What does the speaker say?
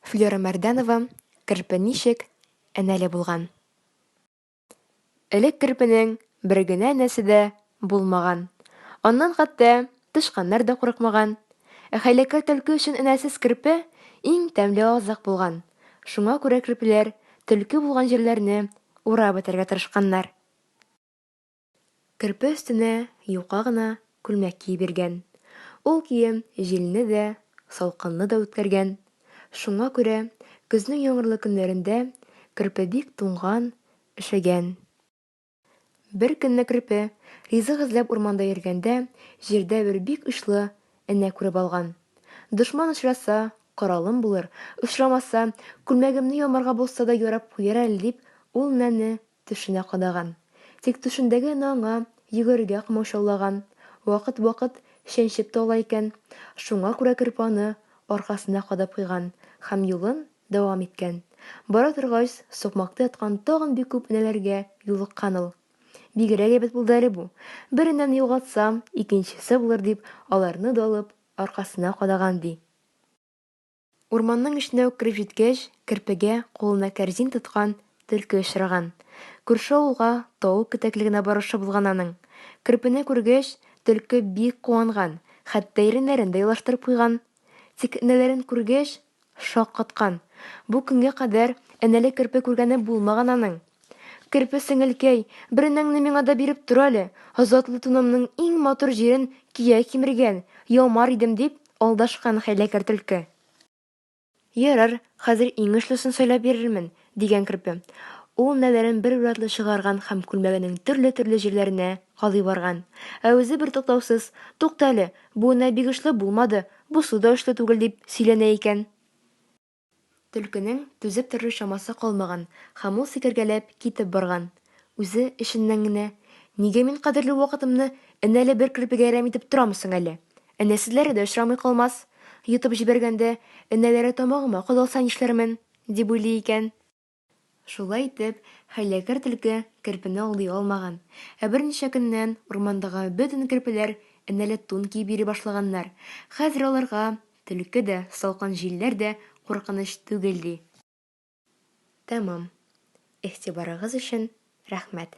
Флера Мәрдәнова керпе ничек энәле булган? Элек керпенең бер генә энәсе дә булмаган. Аннан хәтта тычканнар да курыкмаган. Ә хәйләкәр төлке өчен энәсез керпе иң тәмле азык булган. Шуңа күрә керпеләр төлке булган җирләрне урап бетәргә тырышканнар. Көрпә өстенә юка гына күлмәк киеп йөргән. Ул кием җилне дә, салкынны да үткәргән. Шуңа күрә көзнең яңгырлы көннәрендә Көрпә бик туңган, өшегән. Бер көнне Көрпә ризык эзләп урманда йөргәндә, җирдә бер бик учлы энә күреп алган. Дошман очраса, коралым булыр, очрамаса, күлмәгемне ямарга булса да ярап куяр әле дип, ул энәне Төшенә кадаган. Тик төшендә генә аңа йөгерергә комачаулаган. Вакыт-вакыт чәнчеп тә ала икән. Шуңа күрә көрпәне аркасына кадап куйган һәм юлын дәвам иткән. Бара торгач, сукмакта яткан тагын бик күп энәләргә юлыккан ул. Бигрәк әйбәт булды әле бу. Бер энәне югалтсам, икенчесе булыр дип, аларны да алып, аркасына кадаган, ди. Урманның эченә үк кереп җиткәч, Керпегә, кулына кәрзин тоткан, Төлке очраган. Күрше авылга, Тавык кетәклегенә баручы булган аның. Керпене күргәч, Төлке бик куанган, хәтта иреннәрен дә елаштырып куйган. Тик энәләрен күргәч, шаккаткан. Бу көнгә кадәр энәле керпе күргәне булмаган аның. Керпе сеңелкәй, беренеңне миңа да биреп тор әле, затлы тунымның иң матур җирен кия кимергән, ямар идем, дип алдашкан хәйләкәр Төлке. Ярар, хәзер иң очлысын сайлап бирермен, дигән Керпе. Ул нәләрен бер уратлы чыгарган һәм күлмәгенең төрле-төрле җирләренә кадый барган. Ә үзе бертуктаусыз, Тукта әле, бу нәл бик очлы булмады, бусы да очлы түгел, дип сөйләнә икән. Төлкенең түзеп торыр чамасы калмаган һәм ул сикергәләп китеп барган. Үзе, эченнән генә, Нигә мин кадерле вакытымны әнә әле бер керпегә әрәм итеп торамы соң әле? Әнә сезләре дә очрамый калмас! Йотып җибәргәндә, энәләре тамагыма кадалса нишләрмен? дип уйлый икән. Шулай итеп, хәйләкәр Төлке керпене алдый алмаган. Ә берничә көннән урмандагы бөтен керпеләр энәле тун киеп йөри башлаганнар. Хәзер аларга Төлке дә, салкын җилләр дә куркыныч түгел, ди. Тәмам. Игътибарыгыз өчен рәхмәт.